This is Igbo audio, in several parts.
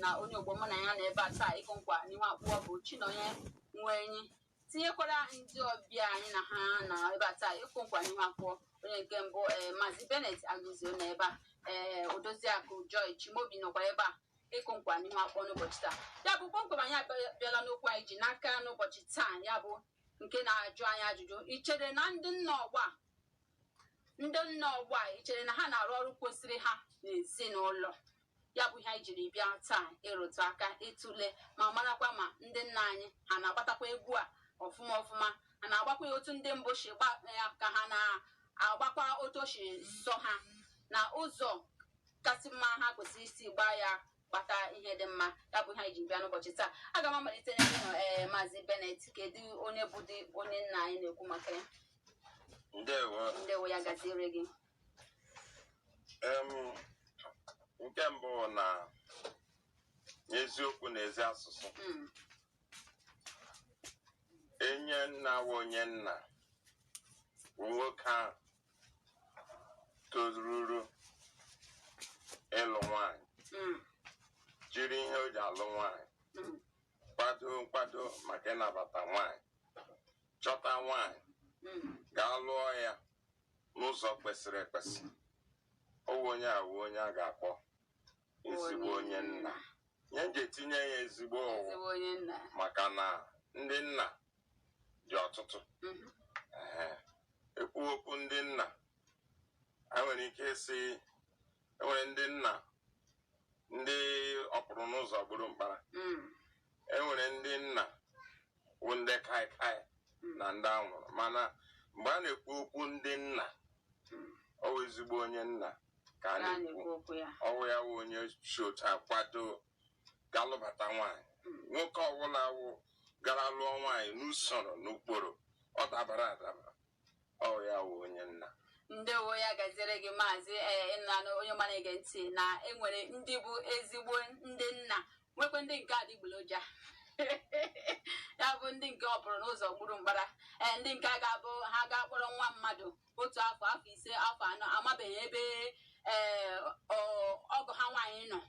na onye ogbo mụ na ya nọ ebe a taa ịkụ nkwa n'ihu abụọ bụ Chinonye Nwenyi tinyekwara ndị ọbịa anyị na ha nọ ebe a taa ịkụ nkwa n'ihu abụọ onye nke mbụ ee Maazị Bennett Agụzio nọ ebe a ee Odoziakụ Joy Chimobi nọkwa ebe a ịkụ nkwa n'ihu abụọ n'ụbọchị taa ya bụ kpọmkwem anyị abịala n'okwu anyị ji n'aka n'ụbọchị taa ya bụ nke na-ajụ anyị ajụjụ i chere na ndị nna ọgbọ a ndị nna ọgbọ a i chere na ha na-arụ ọrụ kwesịrị ha n'ezinụlọ Ya bụ ihe anyị jiri bịa taa ịrụtụ aka ịtụle ma marakwa ma ndị nna anyị ha na-agbatakwa egwu a ọfụma ọfụma ha na-agbakwa ya otu ndị mbụ si gba ya ka ha na-agbakwa otu o si sọ ha na ụzọ kasị mma ha kwesịrị isi gbaa ya gbata ihe dị mma ya bụ ihe anyị ji bịa n'ụbọchị taa aga m amalite n'ebe ị nọ ee maazị Bennett kedu onye bụdị onye nna anyị na-ekwu maka ya ndewo ndewo ya gaziere gị Em, nke mbụ bụ na n'eziokwu na ezi asụsụ Mm. onye nna wụ onye nna bụ nwoke ahụ tozururu ịlụ nwanyị Mm. jiri ihe o ji alụ nwanyị Mm. kwado nkwado maka ịnabata nwanyị chọta nwanyị Mm. gaa lụọ ya n'ụzọ kwesịrị ekwesị ọ wụ onye a wụ onye a ga-akpọ ezigbo onye nna ihe m ji etinye ya ezigbo wụ maka na ndị nna dị ọtụtụ mhm. e kwuo okwu ndị nna enwere ike ịsị enwere ndị nna ndị ọ pụrụ n'ụzọ gburu mkpara mm. e nwere ndị nna wụ ndị kaikai na ndị anwụrụ mana mgbe a na-ekwu okwu ndị nna ọ wụ ezigbo onye nna ka a na-ekwu ọ wụ ya wụ onye si otu a kwado ga lụbata nwaanyị nwoke ọbụla wụ gara lụọ nwaanyị n'usoro n'ụkpụrụ ọ dabara adaba Ọ ya wụ onye nna. ndewo ya gaziere gị maazị ee ị nụla nụ onye ọma na-ege ntị na enwere ndị bụ ezigbo ndị nna nwekwa ndị nke adịgboloja ya bụ ndị nke ọ pụrụ n'ụzọ gburu mkpara ee ndị nke a ga-abụ ha ga-akpọrọ nwa mmadụ otu afọ afọ ise afọ anọ amabeghị ebe ee ọ- ọgọ ha nwaanyị nọ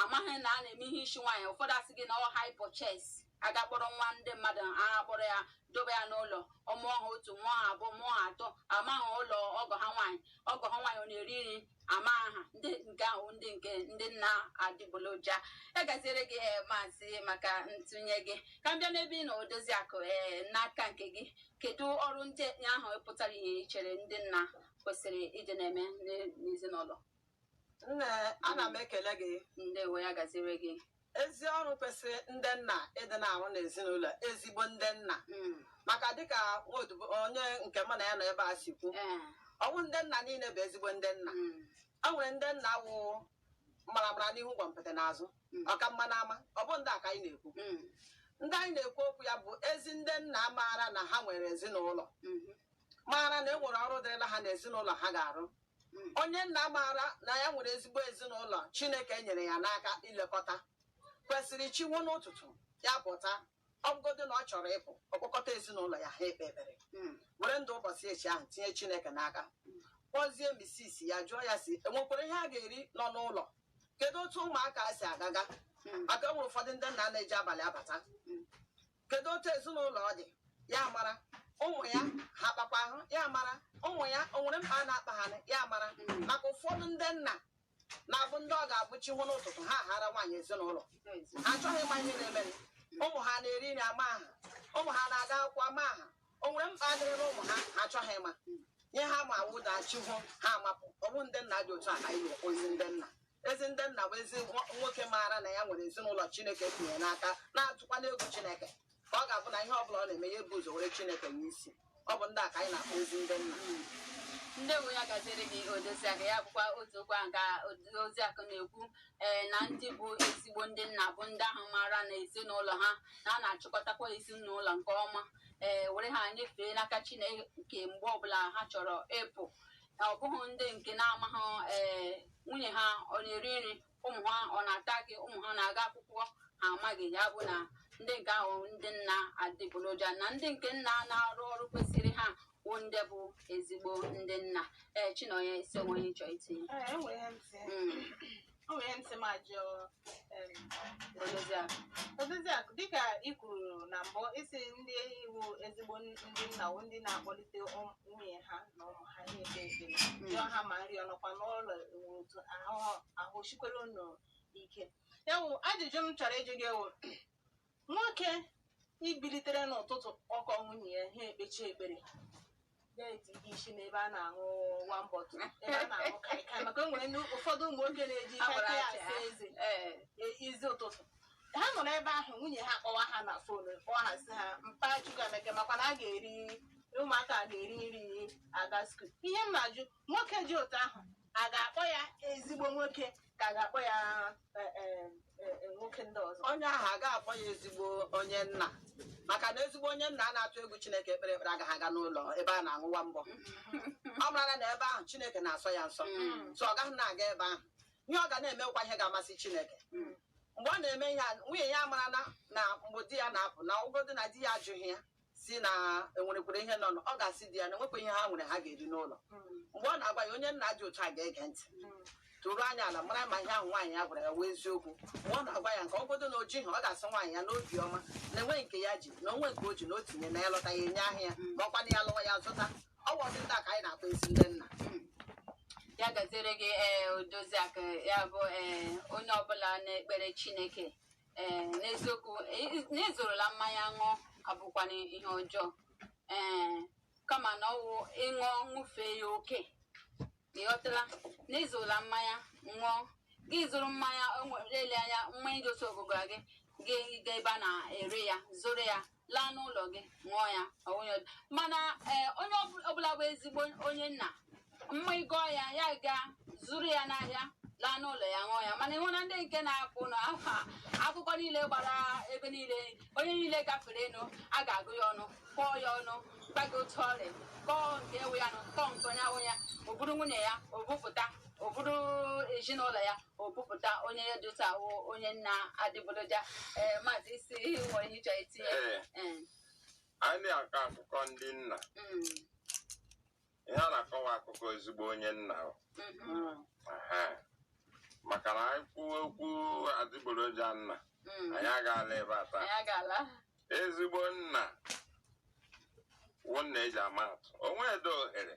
amaghị na a na-eme ihe isi nwaanyị ụfọdụ a sị gị na ọ hire purchase a gaa kpọrọ nwa ndị mmadụ a gaa kpọrọ ya dobe ya n'ụlọ ọ mụọ ha otu mụọ ha abụọ mụọ ha atọ amaghị ụlọ ọgọ ha nwaanyị ọgọ ha nwaanyị ọ na-eri nri amaghị ndị nke ahụ ndị nke ndị nna adịgboloja ya gaziere gị ee maazị maka ntụnye gị ka m bịa n'ebe ị nọ odoziakụ ee n'aka nke gị kedu ọrụ ndị ahụ pụtara ihe i chere ndị nna kwesịrị ịdị na-eme n'ezinụlọ Nne, ana m ekele gị. Ndewo ya gaziere gị. Ezi ọrụ kwesịrị ndị nna ịdị na-arụ n'ezinụlọ ezigbo ndị nna hmm. maka dịka onye nke mụ na ya nọ ebe a si kwu eh. ọ bụghị ndị nna niile bụ ezigbo ndị nna hmm. o nwere ndị nna wụ mara mara n'ihu gwompiti n'azụ hmm. ọka mma n'ama ọ bụ ndị a ka anyị na-ekwu ndị anyị na-ekwu okwu ya bụ ezi ndị nna maara na ha nwere ezinụlọ maara na e nwere ọrụ dịrịla ha n'ezinụlọ ha ga-arụ Onye nna maara na ya nwere ezigbo ezinụlọ Chineke nyere ya n'aka ilekọta kwesịrị chi woo n'ụtụtụ ya pụta ọ bụgodị na ọ chọrọ ịpụ ọ kpọkọta ezinụlọ ya ha ekpee ekpere hmm. were ndụ ụbọchị echi ahụ tinye Chineke n'aka kpọzie misis ya jụọ ya sị e nwekwara ihe a ga-eri nọ n'ụlọ kedu otu ụmụaka si agaga hmm. maka o nwere ụfọdụ ndị nna na-eji abalị abata hmm. kedu otu ezinụlọ ọ dị ya mara ụmụ ya ha kpakwa ahụ ya mara ụmụ ya o nwere mkpa na-akpa ha ya mara hmm. maka ụfọdụ ndị nna na-abụ ndị ọ ga-abụ chi nwa n'ụtụtụ ha hara nwaanyị ezinụlọ achọghị ịma ihe na-emere ụmụ ha na-eri nri amaghị ha ụmụ ha na-aga akwụkwọ amaghị ha o nwere mkpa dịrịla ụmụ ha ha achọghị ịma ihe ha ma wụ na chi hoo ha amapụ ọ bụ ndị nna dị otu a ka anyị na-akpọ ezi ndị nna ezi ndị nna bụ ezi nwo- nwoke maara na ya nwere ezinụlọ chineke tinyere n'aka na-atụkwala egwu chineke ka ọ ga-abụ na ihe ọ bụla ọ na-eme ya ebu ụzọ were chineke nye isi ọ bụ ndị a ka anyị na-akpọ ezi ndị nna ndewo ya gaziere gị odoziakụ ya bụkwa otu okwu ahụ ka odoziakụ na-ekwu ee na ndị bụ ezigbo ndị nna bụ ndị ahụ maara na ezinụlọ ha na a na-achịkọtakwa ezinụlọ nke ọma ee were ha nyefee n'aka chineke mgbe ọbụla ha chọrọ ịpụ ọ bụghị ndị nke na-amaghị ee nwunye ha ọ na-eri nri ụmụ ha ọ na-ata akị ụmụ ha na-aga akwụkwọ ha amaghị ya bụ na ndị nke ahụ ndị nna adịgboroja na ndị nke nna na-arụ ọrụ kwesịrị ha bụ ndị bụ ezigbo ndị nna ee chinonye ị sị o nwere ihe ị chọọ itinye Ee, e nwere ihe m sị. Mm, O nwere ihe m sị m jụọ em, Odoziakụ. Odoziakụ dịka ị kwuru na mbụ ị sị ndị wụ ezigbo n- ndị nna wụ ndị na-akpọlite ụm- nwunye ha na ụmụ ha na-ekpe ekpere jụọ ha ma nri ọ nọkwa n'ụlọ ewu otu ahụ ahụ sikwere unu ike ya wụ ajụjụ m chọrọ ịjụ gị wụ nwoke ibilitere n'ụtụtụ ọ kpọọ nwunye ya ha ekpechaa ekpere na-eti isi n'ebe a na-aṅụ one bottle ebe a na-aṅụ kaikai maka o nwere ndị ụfọdụ ụmụ nwoke na-eji A gbara kaikai aja. asa eze Ee. e- isi ụtụtụ ha nọ n'ebe ahụ nwunye ha kpọwa ha na phone kpọọ ha sị ha mpa Chukwuemeka makwa na a ga-eri ụmụaka ga-eri nri aga school ihe m na-ajụ nwoke dị otu ahụ a ga-akpọ ya ezigbo nwoke ka a ga-akpọ ya e, e, e, e, nwoke ndị ọzọ onye ahụ a ga-akpọ ya ezigbo onye nna maka na ezigbo onye nna a na-atụ egwu chineke ekpere ekpere agaghị aga n'ụlọ ebe a na-aṅụwa mbọ ọ marala na ebe ahụ chineke na-asọ ya nsọ Mm. so ọ gaghị na-aga ebe ahụ ihe ọ ga na-emekwa ihe ga-amasị chineke Mm. mgbe ọ na-eme ihe a nwunye ya amarala na mgbe di ya na-apụ na ọ wụgodi na di ya ajụghị ya si na enwerekwere ihe nọ ọ ga-asị di ya na enwekwaghị ihe ha nwere ha ga-eri n'ụlọ mgbe ọ na-agwa ya onye nna dị otu a ga-ege ntị tụrụ anya ala mara ma ihe ahụ nwaanyị ya gwara ya wụ eziokwu mgbe ọ na-agwa ya nke ọ bụgodu na o jighị ọ ga-asị nwaanyị ya n'obi ọma na enweghị nke ya ji na o nwe nke o ji na o tinye na ya lọta ya enye ha ya ma ọkwanụ ya lọwa ya azụta ọ bụ ụdị ndị a ka anyị na-akpọ ezi ndị nna ya gaziere gị ee odoziakụ ya bụ ee onye ọbụla na-ekpere chineke ee n'eziokwu e- na ịzụrụla mmanya ṅụọ abụkwana ihe ọjọọ ee kama na ọwụ ị ṅụọ ṅụfee ya oke ị ghọtala na ịzụrụla mmanya ṅụọ gị zụrụ mmanya o nwere ele anya mmanya dị otu a gụọ gị gị gaa ebe a na-ere ya zụrụ ya laa n'ụlọ gị ṅụọ ya ọ wụghị ọdụ. mana ee, onye ọbụ- ọbụla bụ ezigbo onye nna mmanya gụọ ya ya gaa zụrụ ya n'ahịa laa n'ụlọ ya ṅụọ ya mana ịhụ na ndị nke na-apụ na aha akụkọ niile gbara ebe niile onye niile gaferenụ a ga-akọ ya ọnụ kọọ ya ọnụ gbago otu ọrịa kọọ nke wụ ya nụ kọọ nke na-awụghị ya o buru nwunye ya o bupụta o buru ezinụlọ ya o bupụta onye dị otu a wụ onye nna adịgboloja ee maazị isi nwere ihe ị chọ itinye Ee. Ee, anyị na-akọ akụkọ ndị nna mm, ihe a na-akọwa akụkọ ezigbo onye nna o. mhm, Aha. maka na anyị kwuo okwu adịgboroja nna mm. anyị agaala ebe a taa anyị agaala ezigbo nna wụ nna e ji ama atụ o nwedịghị ohere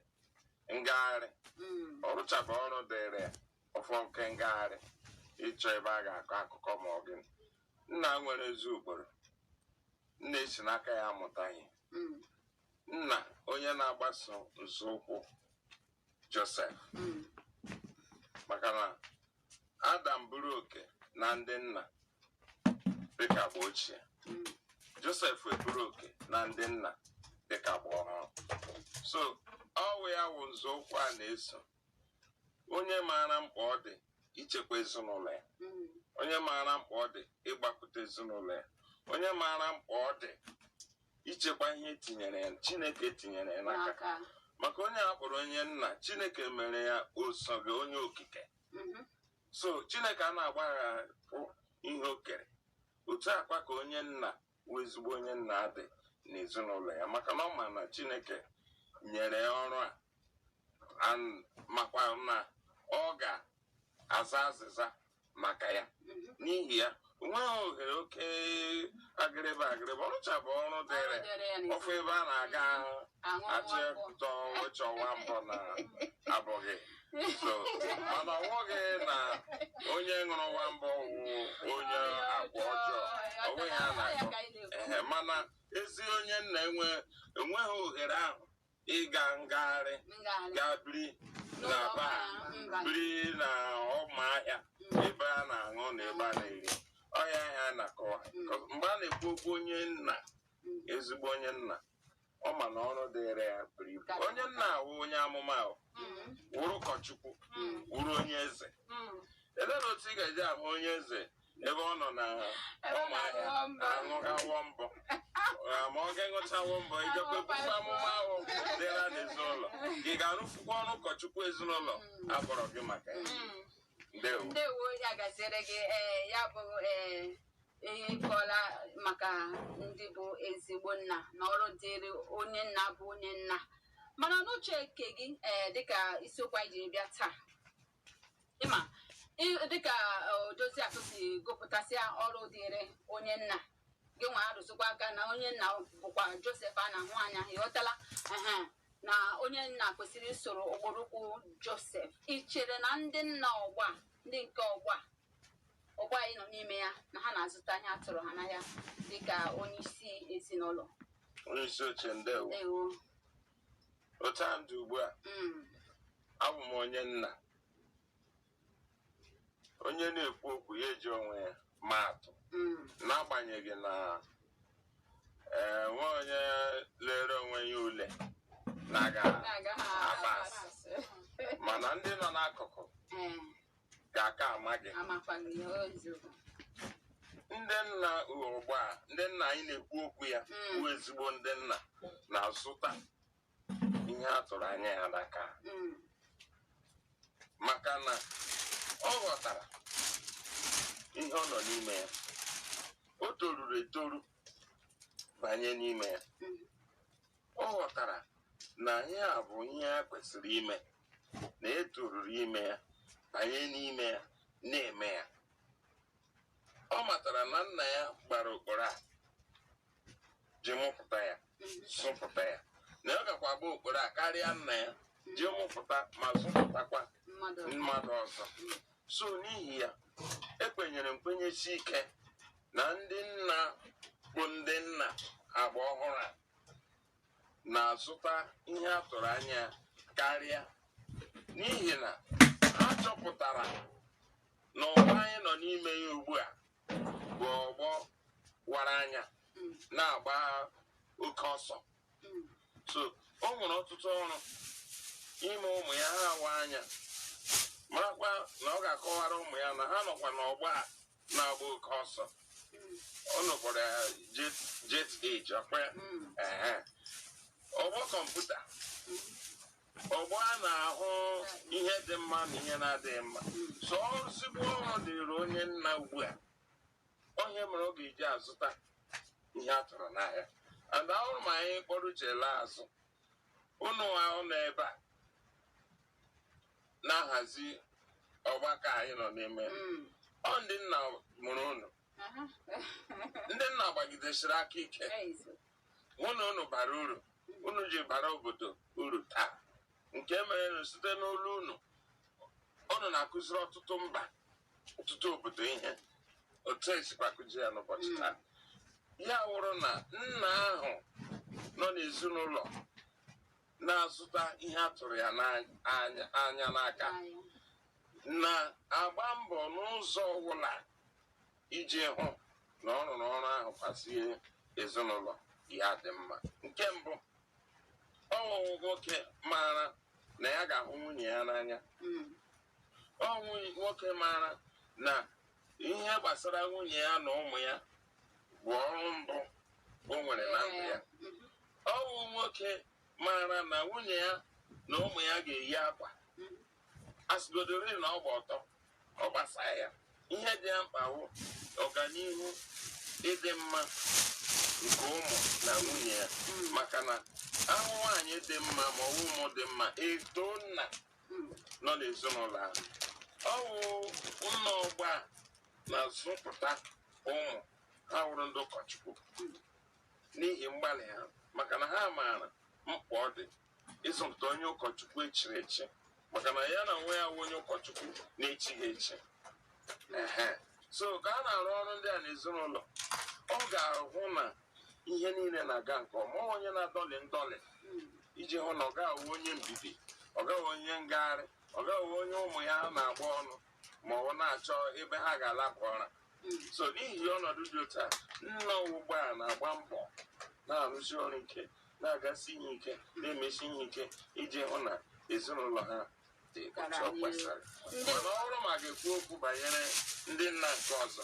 ngagharị Mm, ọ rụchaba ọrụ dịrị ya ọ fọ nke ngagharị ịchọ ebe a ga-akọ akụkọ ma ọ gịnị nna nwere ezi ụkpụrụ nna e si n'aka ya amụta ihe mm. nna onye na-agbaso nzọụkwụ Josef mm. maka na Adam buru oke na ndị nna dịka agba ochie mm. Josef eburu oke na ndị nna dịka agba ọhụrụ so ọwụ ya wụ nzọụkwụ a na-eso onye maara mkpa ọ dị ichekwa ezinụlọ ya mm. onye maara mkpa ọ dị ịgbapụta ezinụlọ ya onye maara mkpa ọ dị ichekwa ihe e tinyere ya chineke tinyere ya n'aka maka onye a kpọrọ onye nna chineke mere ya osote onye okike mm-hmm. so chineke a na-agbahapụ ihe o kere otu a kwa ka onye nna wụ ezigbo onye nna adị n'ezinụlọ ya maka na ọ ma na Chineke nyere ya ọrụ a and makwa na ọ ga-aza azịza maka ya n'ihi ya o nweghị ohere oke agịrịba agịrịba ọ rụchabụ ọrụ dịịrị ọ fụ ebe a na-aga achịtọ wechọwa mbọ na abụghị so mana ọ wụghị na onye ṅụrụ nwa mbọ wụ onye agwa ọjọọ ọ wụghị ya a na-akọ ehe mana ezi onye nna enwe enweghị ohere ahụ ịga ngagharị ga biri na bar biri na ọma ahịa ebe a na-aṅụ na ebe a na-eri ọ wụ ihe a na-akọwa mgbe a na-ekwu okwu onye nna ezigbo onye nna ọ ma na ọrụ dịịrị ya buru ibu onye nna awụ onye amụma ahụ wụrụ ụkọchukwu wụrụ onye eze elee na otu ị ga-eji ahụ onye eze ebe ọ nọ na ọma ahịa aṅụgawo mbọ Ah, ma ọ ga-aṅụchawa mbọ ijekwa ekwukwe amụma ahụ dịra n'ezinụlọ gị ga-arụfukwa ọrụ ụkọchukwu ezinụlọ a kpọrọ gị maka ya ndewo ndewo ya gaziere gị ee ya bụ ee ị kọọla maka ndị bụ ezigbo nna na ọrụ dịịrị onye nna bụ onye nna mana n'uche nke gị ee dịka isiokwu anyị jiri bịa taa ịma ị- dịka odozi akụ si gụpụtasịa ọrụ dịịrị onye nna gị nwa arụzikwa aka na onye nna bụkwa josef a na-ahụ anya ị ghọtala ehe na onye nna kwesịrị isoro ụkpụrụ ụkwụ josef ị chere na ndị nna ọgbọ a ndị nke ọgbọ a ọgbọ anyị nọ n'ime ya na ha na-azụta ihe a tụrụ ha n'ahịa dịka onye isi ezinụlọ onye isi oche ndewo ewo otu a m dị ugbu a mm, abụ m onye nna onye na-ekwu okwu ya eji onwe ya maa atụ mm, n'agbanyeghị na enwe onye lere onwe ya ule na-aga na-agaghị apass. apass. mana ndị nọ n'akụkụ Eh, ga-aka ama gị ndị nna ọgbọ a ndị nna anyị na-ekwu okwu ya hmm. bụ ezigbo ndị nna na-azụta ihe a tụrụ anya ya n'aka hmm. maka na ọ ghọtara ihe ọ nọ n'ime ya o toruru etoru banye n'ime ya hmm. ọ ghọtara na ihe a bụ ihe a kwesịrị ime na e toruru ime ya banye n'ime ya na-eme ya ọ matara na nna ya gbara okporo a ji mụpụta ya zụpụta ya na ọ gakwa agba okporo a karịa nna ya ji mụpụta ma zụpụtakwa mmadụ ọzọ so n'ihi ya ekwenyere m kwenyesie ike na ndị nna bụ ndị nna agba ọhụrụ a na-azụta ihe a tụrụ anya karịa n'ihi na ha chọpụtara na ọgbọ anyị nọ n'ime ya ugbu a bụ ọgbọ wara anya na-agba oke ọsọ so o nwere ọtụtụ ọrụ ime ụmụ ya ha awa anya marakwa na ọ ga-akọwara ụmụ ya na ha nọkwa n'ọgbọ a na-agba oke ọsọ unu kpọrọ ya jet jet age ọ kwa ya Ehe. ọgbọ kọmputa ọgbọ a na-ahụ ihe dị mma na ihe na-adịghị mma so ozigbo ọrụ dịrị onye nna ugbu a ọ ihe mere ọ ga-eji azụta ihe a tụrụ n'ahịa and ahụrụ m anyị kpọrọ uche laa azụ unu ahụ nọ ebe a na-ahazi ọgbakọ anyị nọ n'ime mm. ọ ndị nna mụrụ unu ndị nna gbagidesiri aka ike hụ na unu bara uru unu ji bara obodo uru taa nke mere na site n'olu unu unu na-akụziri ọtụtụ mba ọtụtụ obodo ihe otu e sikwa akụzi ya n'ụbọchị mm. taa ya wụrụ na nna ahụ nọ n'ezinụlọ na-azụta ihe a tụrụ ya anya n'aka na-agba mbọ n'ụzọ ọbụla iji hụ na ọ rụrụ ọrụ ahụ hazie ezinụlọ ya dị mma nke mbụ ọ wụ nwoke maara na ya ga-ahụ nwunye ya n'anya hmm. ọ wụ nwoke maara na ihe gbasara nwunye ya na ụmụ ya bụ ọrụ mbụ o nwere na ndụ ya ọ bụ nwoke maara na nwunye ya na ụmụ ya ga-eyi akwa a sịgodori na ọ gba ọtọ ọ gbasa ya ihe dị ya mkpa bụ ọganihu ịdị mma nke ụmụ na nwunye ya maka na ahụ nwaanyị dị mma ma ọ bụ ụmụ dị mma e too nna nọ n'ezinụlọ ahụ ọ bụ nna ọgbọ a na-azụpụta ụmụ ha wụrụ ndị ụkọchukwu n'ihi mgbalị ha maka na ha maara mkpa ọ dị ịzụpụta onye ụkọchukwu echiri echi maka na ya n'onwe ya wụ onye ụkọchukwu na-echighị echi Ehe. so ka a na-arụ ọrụ ndị a n'ezinụlọ ọ ga-ahụ na ihe niile na-aga nke ọma ọ onye na-adọlị ndọlị iji hụ na ọ gaghị awụ onye mbibi ọ gaghị awụ onye ngagharị ọ gaghị awụ onye ụmụ ya na-agba ọnụ ma ọ wụ na-achọ ebe ha ga-alaba ụra so n'ihi ọnọdụ dị otu a nna ugbu a na-agba mbọ na-arụsi ọrụ ike na-agasi ihe ike na-emesi ihe ike iji hụ na ezinụlọ ha dị otu ọ kwesịrị mana ọ bụrụ ma a ga-ekwu okwu banyere ndị nna nke ọzọ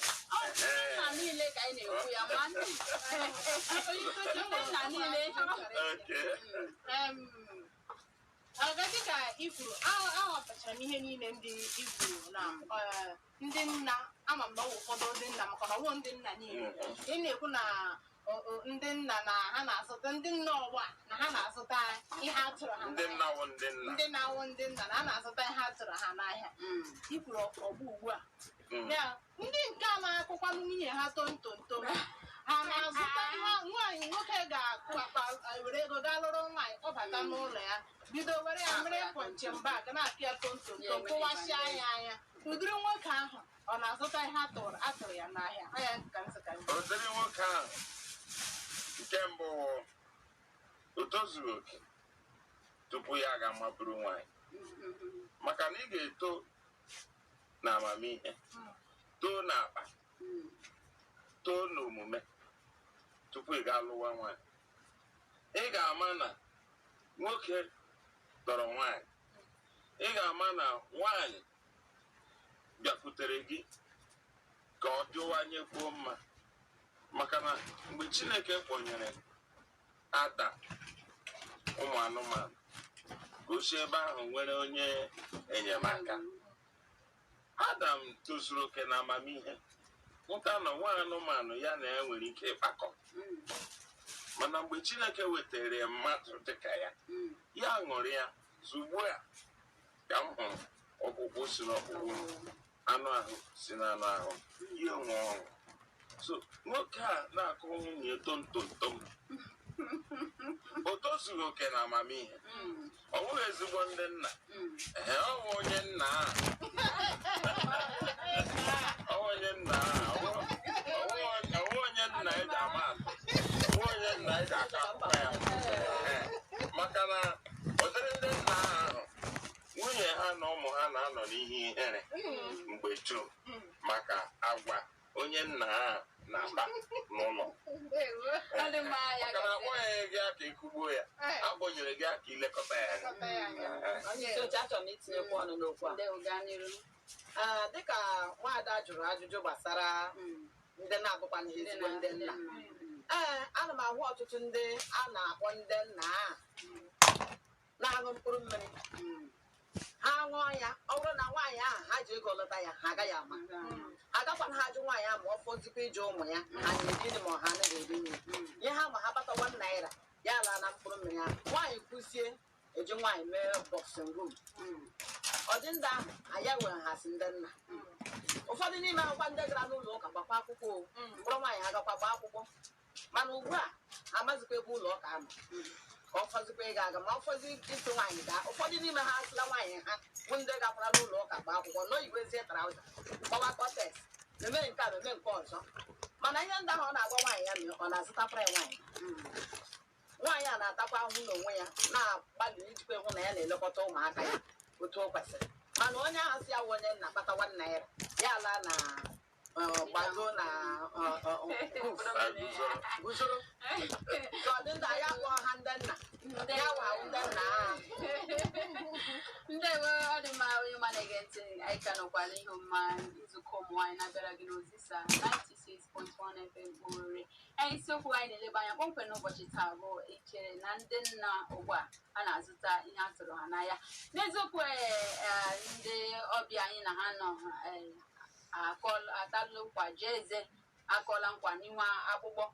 Okay. Ọzọ dịka i kwuru a- aghọtachara m ihe niile ndị i kwuru na eh, ndị nna ama m na ọ bụ ụfọdụ ndị nna maka na ọ wụghị ndị nna niile ị na-ekwu na ọ, ọ, ndị nna na ha na-azụta ndị nna ọgbọ a na ha na-azụta ihe a tụrụ ha n'ahịa. ndị nna wụ ndị nna ndị na-awụ ndị nna na ha na-azụta ihe a tụrụ ha n'ahịa i kwuru ọgbọ ugbu a ndị nke a na-akụkwa nwunye ha tontonto ha na-azụta ha nwaanyị nwoke ga-akụ akpa were ego gaa lụrụ nwaanyị kpọbata n'ụlọ ya bido were ya mere punching bag na-akụ ya tontonto kụwasịa ya anya ụdịrị nwoke ahụ ọ na-azụta ihe a tụrụ ya n'ahịa anya ka nzụka ụdịrị nwoke ahụ nke mbụ o tozughị oke tupu ya aga maburu nwaanyị maka na ị ga-eto na amamihe too na akpa too na omume tupu ị gaa lụwa nwaanyị ị ga-ama na nwoke tọrọ nwaanyị ị ga-ama na nwaanyị bịakwutere gị ka ọ dịwanyekwuo mma maka na mgbe chineke kpọnyere adam ụmụ anụmanụ ka o si ebe ahụ nwere onye enyemaka adam tozuru oke na amamihe hụta na o nweghị anụmanụ ya na ya nwere ike ịkpakọ mana mgbe chineke wetara ya mmadụ dịka ya ya ṅụrịa sị ugbu a ka m hụrụ ọkpụkpụ si n'ọkpụkpụ m anụ ahụ si n'anụ ahụ m ya enwee ọṅụ so nwoke na-akụ nwunye tontontom o tozughị oke na amamihe ọ bụghị ezigbo ndị nna ee ọ bụ onye nna a ọ bụ onye nna a ọ bụ- ọ bụ- ọ bụ onye nna ị ga-ama atụ ọ bụ onye nna ị ga-akọ akụkọ ya Ee, maka na ụdịrị ndị nna ahụ nwunye ha na ụmụ ha na-anọ n'ihe ihere mgbe dum maka agwa onye nna ha na-akpa n'ụlọ Ọ dị mma ya maka na akpọnyeghị gị aka ịkụgbu ya a kpọnyere gị aka ilekọta ya anya. Kọta ya anya. Ee. Onye isi oche achọrọ m itinyekwu ọnụ n'okwu a Ndewo, gaa n'iru. Ah, dịka nwaada jụrụ ajụjụ gbasara Mm. ndị na-abụkwana ha ezigbo ndị nna ee ana m ahụ ọtụtụ ndị a na-akpọ ndị nna a na-aṅụ mkpụrụ mmiri ha ṅụọ ya ọ bụrụ na nwaanyị ahụ ha ji ego lụta ya ha agaghị ama agakwanaha ajụ nwaanyị ahụ ma ọ fọzikwa ịjụ ụmụ ya ha na-eri nri ma ọ ha anaghị eri nri ihe ha ma ha kpata one naira ya laa na mkpụrụ mmiri ahụ nwaanyị kwuzie e ji nwaanyị mee boxing room ọ dị ndị ahụ a ya-ewere ha sị ndị nna ụfọdụ n'ime ha wụkwa ndị gara n'ụlọ ụka gbaakwa akwụkwọ ọ kpọrọ nwaanyị ha gakwa gbaa akwụkwọ mana ugbu a amazikwaghị ebe ụlọ ụka nọ ka ọ fọzikwa ịga aga ma ọ fọzi idu nwaanyị gaa ụfọdụ n'ime ha asịla nwaanyị ha bụ ndị gakwara n'ụlọ ụka gbaa akwụkwọ nọ yiwezie trouser gbawa cortex eme nke a eme nke ọzọ mana ihe ndị ahụ ọ na-agwa nwaanyị ya mere ọ na-azụtakwara ya nwaanyị nwaanyị a na-atakwa ahụhụ n'onwe ya na-agbalị ijikwa ịhụ na ya na-elekọta ụmụaka ya otu o kwesịrị mana onye ahụ sị ya wụ onye nna kpata one naira ya ala na ndewo ọ dị mma onye ọma na-ege ntị anyị ka nọkwa n'ihe omume nzukọ ụmụ nwaanyị na-abịara gị n'Ozisa 96.1 FM Owerri anyị isiokwu anyị na-eleba anya kpọmkwem n'ụbọchị taa bụ i chere na ndị nna ugbu a a na-azụta ihe a tụrụ ha n'ahịa n'eziokwu ee, ee, ndị ọbịa anyị na ha nọ ee, akọl atalụ nkwa jee eze akọla nkwa n'inwe akpụkpọ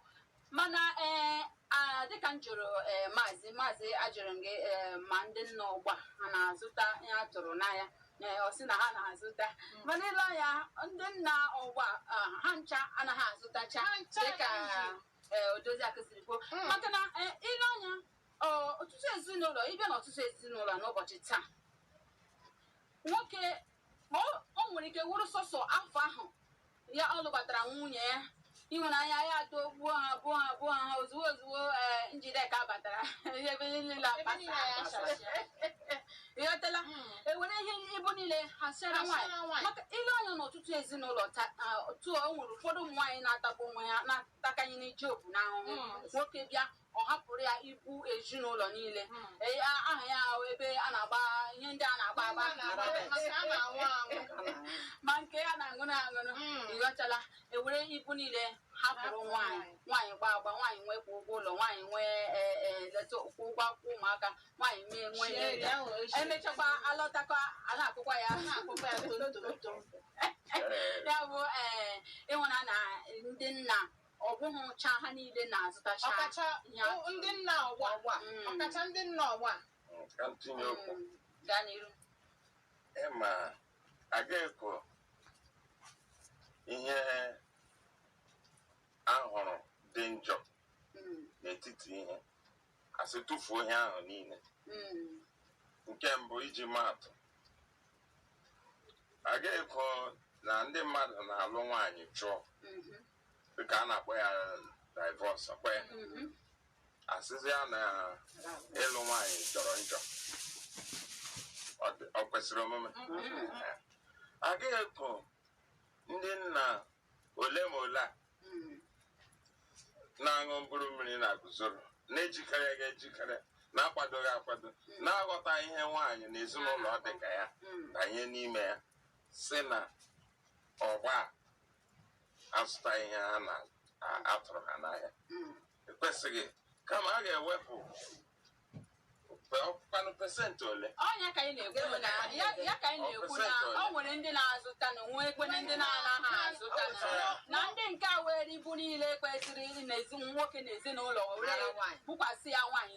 mana ee a- dịka m jụrụ ee maazị maazị ajụrụ m gị ee ma ndị nna ugbua ha na-azụta ihe a tụrụ n'ahịa ee ọ sị na ha na-azụta mana i lee anya ndị nna ugbua ah, ha ncha anaghị azụtacha Ha ncha dịka anaghị. ee odozi akụ siri kwuo Mm. maka na ee, i lee anya ọ, ọtụtụ ezinụlọ ị bịa n'ọtụtụ ezinụlọ n'ụbọchị taa nwoke O o nwere ike wụrụ sọsọ afọ ahụ ya ọ lụbatara nwunye ya ịhụnanya ya atọgbuo ha gbuo ha gbuo ha ozugbo ozugbo ee Njideka batara ihe ebe niile Ebe akpasa niile ya akpasa. chasịa. ị ghọtala Mm. e were ihe ibu niile hasịara Ha nwaanyị sịara nwaanyị. maka i lee anya n'ọtụtụ ezinụlọ ta- ah, otu o nwere ụfọdụ ụmụ nwaanyị na-atagbu onwe ha na-atakanye n'ije obu n'ahụhụ Mm. nwoke bịa ọ hapụrụ ya ibu ezinụlọ niile Ee, a- ahụ ya ebe a na-agba ihe ndị a na-agba agba ma nke a na-aṅụ aṅụ ịghọtala ewere ibu niile hapụrụ nwaanyị nwaanyị gba agba nwaanyị nwee kwa ụgwọ ụlọ nwaanyị nwee ee, ee, leta kwa ụgwọ akwụkwọ ụmụaka nwaanyị mee nwee ihe ndị a. emechakwa alọtakwa a na-akụkwa ya ya bụ ee ịhụna na ndị nna Ọ bụghịcha ha niile na-azụtacha ọkacha ihe a o- ndị tụrụ. nna ọgbọ a Ọgbọ a, mm. ọkacha ndị nna ọgbọ a Mm, ka m tinye okwu Mm, gaa n'iru ị ma aga ekwo ihe ahụrụ dị njọ Mm, n'etiti ihe asị tụfuo ihe ahụ niile mm, nke mbụ iji maa atụ aga ekwo na ndị mmadụ na-alụ nwaanyị chụọ mhm, dịka a na-akpọ ya divọs akpọ ya asịzia na ịlụ nwaanyị jọrọ njọ Ọ dị- ọ kwesịrị omume agaghị ekwo ndị nna ole ma ole a na-aṅụ mkpụrụ mmiri na-aguzoro na-ejikereghị ejikere na-akwadoghị akwado na-aghọtaghị ihe nwaanyị na ezinụlọ dị ka ya banye n'ime ya sị na ọgbọ a azụtaghị ihe a na-atụrụ ha n'ahịa o kwesịghị kama a ga-ewepụ kwanụ pesentị ole ọ ya ka anyị na-ekwu na ya ya ka anyị na-ekwu na o nwere ndị na-azụta na nwekwana ndị na-anaghị azụta na ndị nke a were ibu niile kwesịrị nwoke n'ezinụlọ were bukwasị ya nwaanyị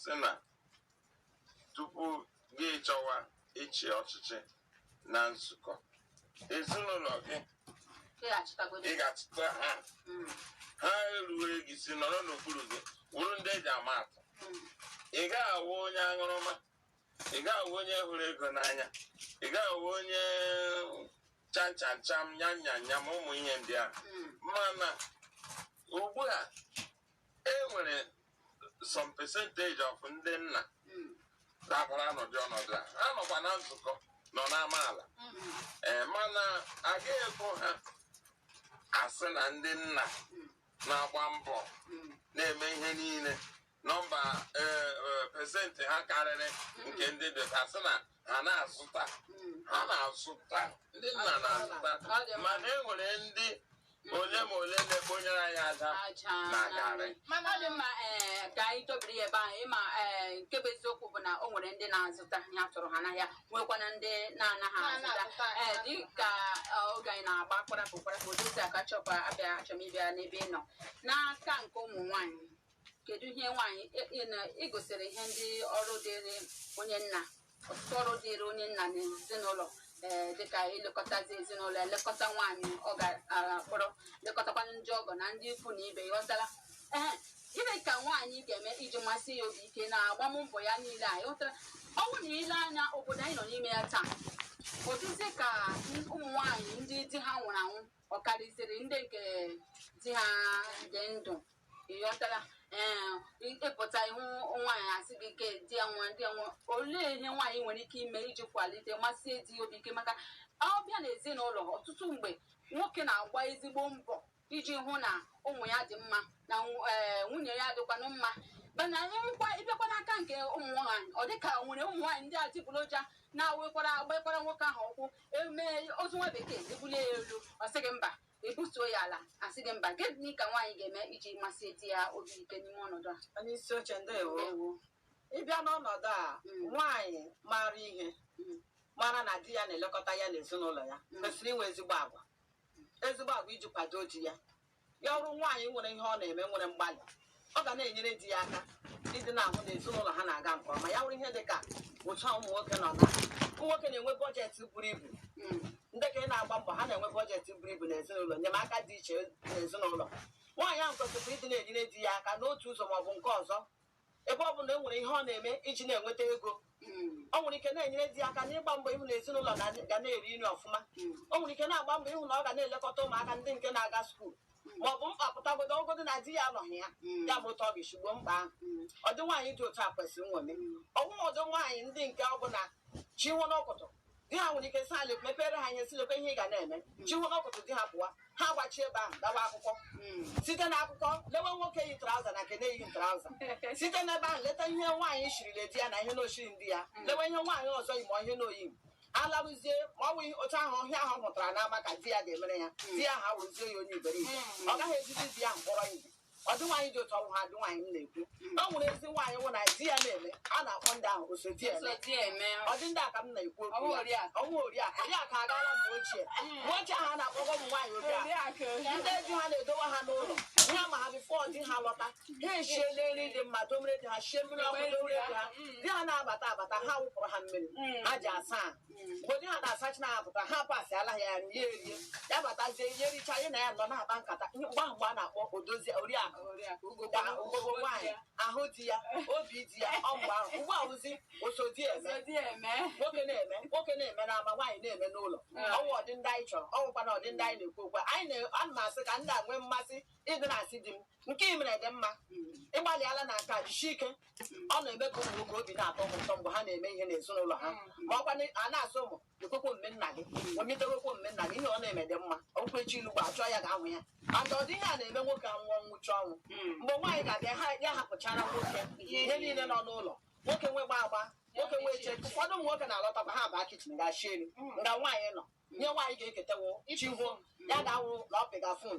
sị na tupu gị achọwa ịchị ọchịchị na nzukọ ezinụlọ gị ị ga-achịta ha hmm. ha eruwe gị isi nọrọ n'okpuru gị wụrụ ndị eji ama atụ hmm. ị ga-awụ onye aṅụrụma ị ga-awụ onye hụrụ ego n'anya ị ga-awụ onye chanchanchan nyanyanya ma ụmụ ihe ndị a hmm. mana ugbu a e nwere some percentage of ndị nna dabara n'ụdị ọnọdụ a ha nọkwa na nzukọ nọ n'amaala ee mana aga ekwo ha asị na ndị nna na-agba mbọ na-eme ihe niile nọmba ee, ee, pesentị ha karịrị nke ndị dị ka sị na ha na-azụta ha na-azụta ndị nna na-azụta mana e nwere ndị ole ma ole na-ekponyere anyị aja na garị mana ọ dị mma ee ka anyị dobiri ya ebe ahụ ịma ee nke bụ eziokwu bụ na o nwere ndị na-azụta ihe a tụrụ ha n'ahịa nwekwana ndị na-anaghị azụta ee dị ka eh, oge anyị na-agba kwarapụ kwarapụ Odoziakụ achọkwa ịbịa achọ m ịbịa n'ebe ị nọ n'aka nke ụmụ nwaanyị kedu ihe nwaanyị e, e, na i gosiri ihe ndị ọrụ dịrị onye nna ọtụtụ ọrụ dịrị onye nna na ezinụlọ ee dịka ilekọtazi ezinụlọ elekọta nwaanyị ọ ga-akpọrọ lekọtakwa ndị ọgọ na ndị ikwu na ibe ị ghọtara ee gịnị ka nwaanyị ga-eme iji masie ya obi ike na agbammbọ ya niile a ị ghọtara ọ bụrụ na i lee anya obodo anyị nọ n'ime ya taa ọ dịzi ka ụmụ nwaanyị ndị di ha nwụrụ anwụ ọ karịziri ndị nke di ha dị ndụ ị ghọtara ee ị pụta ị hụ nwaanyị a sị gị ke di ya nwa di ya nwa olee ihe nwaanyị nwere ike ime iji kwalite masie di ya obi ike maka ị bịa na ezinụlọ ọtụtụ mgbe nwoke na-agba ezigbo mbọ iji hụ na ụmụ ya dị mma na nw- ee, nwunye ya dịkwanụ mma mana ị hụkwa ị bịakwa n'aka nke ụmụ nwaanyị ọ dịka o nwere ụmụ nwaanyị ndị adịgboroja na-awekwara agbakwara nwoke ahụ ụkwụ emee ozu nwa bekee e bulie ya elu ọ sị gị mba e butuo ya ala a sị gị mba gịnị ka nwaanyị ga-eme iji masie di ya obi ike n'ime ọnọdụ a onye isi oche ndewo Ndewo. ị bịa n'ọnọdụ a Mm. nwaanyị maara ihe Mm. mara na di ya na-elekọta ya n'ezinụlọ ya Mm. kwesịrị inwe ezigbo agwa ezigbo agwa iji kwado di ya ya wụrụ nwaanyị nwere ihe ọ na-eme nwere mgbalị ọ ga na-enyere di ya aka ịdị na-ahụ na ezinụlọ ha na-aga nke ọma ya wụrụ ihe dị ka otu ụmụ nwoke nọ na ụmụ nwoke na-enwe bọjetị buru ibu ndị ka ị na-agba mbọ ha na-enwe bọjetị buru ibu n'ezinụlọ enyemaka dị iche n'ezinụlọ nwaanyị ahụ kwesịrị ịdị na-enyere di ya aka n'otu ụzọ maọbụ nke ọzọ ebe ọ bụ na e nwere ihe ọ na-eme iji na-enweta ego o nwere ike na-enyere di ya aka n'ịgba mbọ ịhụ na ezinụlọ na- ga na-eri nri ọfụma o nwere ike na-agba mbọ ịhụ na ọ ga na-elekọta ụmụaka ndị nke na-aga skuul ma ọ bụ mkpa pụtagodo ọ wụgodi na di ya anọghị ya ya bụ otu ọ ga-esi gboo mkpa ahụ ọdị nwaanyị dị otu a kwesịrị nṅomi ọ wụghị ọdị nwaanyị ndị nke ọ bụ na chi wo n'ọkụtụ di ha nwere ike sị lee mepere ha ahịa sị lekwa ihe ị ga na-eme chi wo n'ọkụtụ di ha pụwa ha gbachi ebe ahụ gawa akụkọ site na akụkọ lewe nwoke yi traụza na nke na-eyighị traụza site n'ebe ahụ leta ihe nwaanyị shirila di ya na ihe n'o shighiri di ya lewe ihe nwaanyị ọzọ yi ma ihe n'o yi alarụzie ma ọ bụghị otu ahụ ihe ahụ ọ hụtara n'ama ka di ya ga-emere ya di ya awụrụzie ya onye iberibe ọ gaghị ejizi di ya kpọrọ ihe ọdị nwaanyị dị otu a wụghị ọdị nwaanyị m na-ekwu o nwere ezi nwaanyị wụ na di ya na-eme a na-akpọ ndị ahụ oso di eme ọdị ndị a ka m na-ekwu okwu ya ọ wụghị oriakụ oriakụ agaala mgbe ochie mgbe ochie ahụ a na-akpọgọ ụmụ nwaanyị oriakụ ndị di ha na-edowe ha n'ụlọ ya ma ha bifọ di ha lọta ha eshiele nri dị mma domere di ha shie mmiri ọkụ domere di ha di ha na-abata abata ha wụpụrụ ha mmiri ha ji asa ahụ mgbe onye ha na-asacha na-apụta ha pasịala ya nye ya erie ya batazie ya richa ya na ya nọ na-akpa nkata ihe mgbe ahụ mgbe a na-akpọ odozi oriakụ da ugogo nwaanyị ahụ di ya obi di ya ọ mgbe ahụ ugbu a wụzi osodi eme nwoke na-eme nwoke na-eme n'ama nwaanyị na-eme n'ụlọ ọ wụ ọdị ndị anyị chọrọ ọ wụkwanụ ọdị ndị anyị na-ekwu okwu anyị na-ana m asị ka ndị a nwee mmasị ị dị na-asị di m nke ị mere dị mma ị gbalịala na aka jisie ike ọ na-eme ka ụmụ nwoke obi na-atọ ha ụtọ mgbe ha na-eme ihe n'ezinụlọ ha ma ọ kwa na- a na-asị ụmụ ekwekwo mme nna gị omitewekwo mme nna gị ihe ọ na-eme dị mma okwu echi ilu gba achọ ya ga-ahụ ya maka ụdị ihe a na-eme nwoke anwụ ọnwụchi ọnwụ mgbe nwaanyị ga-abịa ha ya hapụchara nwoke ihe niile nọ n'ụlọ nwoke nwe gba agba nwoke nwe eche ụfọdụ ụmụ nwoke na-alọtakwa ha baa kichin ga-achị elu nga nwaanyị nọ nye nwaanyị ga-eketewo chi hụ ya ga-awụ na ọ pịga fon